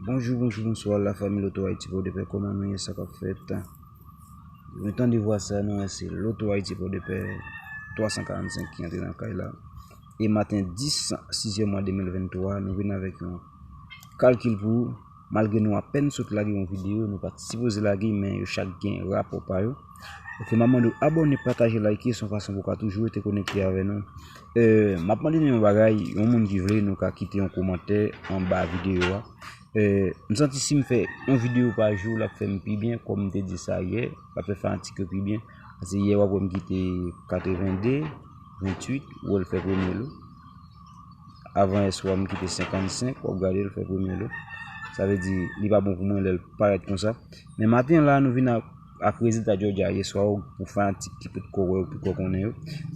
Bonjou bonjou bonswa la fami loto ayiti po de pè koman nou ye sa kap fèt mwen tande vwa sa nou wè se loto ayiti po de pè 345 ki antre nan kay la e maten 10 sizyèm mwa 2023 nou vin avèk yon kalkil pou Malgre nou apèn sot lage yon video nou pat sipoze lage men yo chak gen rapò pa yo Ok map mande w abòne pataje like son fason pou w ka toujou rete konekte avè nou Map mande nou yon bagay yon moun ki vle nou ka kite yon komantè anba video a M santi sim fè yon video pa jou lap fèm pi byen kòm m te di sa yè lap fè fanatik yo pi byen Pase yè wap wè m kite 82 28 wè l fè premye l. Avan S3 m kite 55, w ap gade l fè premye lo. Sa vle di, li pa bon pou mwen lè l parèt konsa. Men maten la, nou vin ak rezilta Georgia yeswa ou pou fanatik ki pot ko wè yo, ki pot ko konnen yo.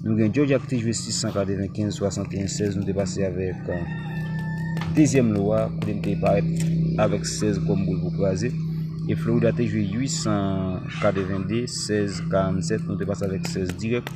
Nou gen Georgia ki te jwe 695, 61, 16, nou te pase avèk dezyèm lo a, kote li te parèt avèk 16 kòm boul pou kraze. E Florida te jwe 882, 16, 47, nou te pase avèk 16 dirèk.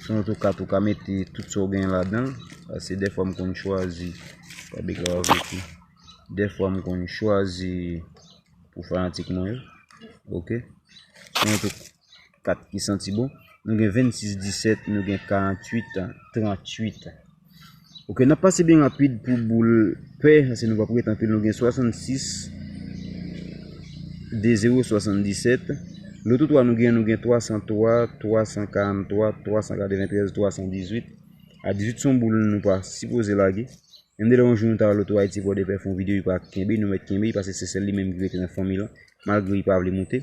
Si yon tou kat ou ka mete tout sa ou genyen ladan. Pase defwa m konn chwazi. Pa bi ka wap viti. Defwa m konn chwazi. Pou fanatik mwen yo. Ok. Si yon tou kat ki santi bon. Nou gen 26, 17, nou gen 48, 38. Ok nap pase byen rapid pou boul pè ase nou pap ret anpil nou gen 66 2 0 77 loto 3 nou gen nou gen 303 343 393 318 a 18 son boul nou pa sipoze lage yon de lè yon jou nou ta wè loto ayiti vòdèpè fon videyo li pa kenbe nou mèt kenbe li pase se sèl li menm ki rete nan fanmi lan malgre li pa vle moute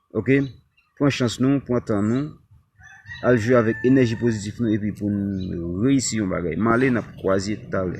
Ok pran chans nou pran tan nou al jwe avèk enèji pozitif nou epi pou nou reyisi yon bagay male nap kwaze talè.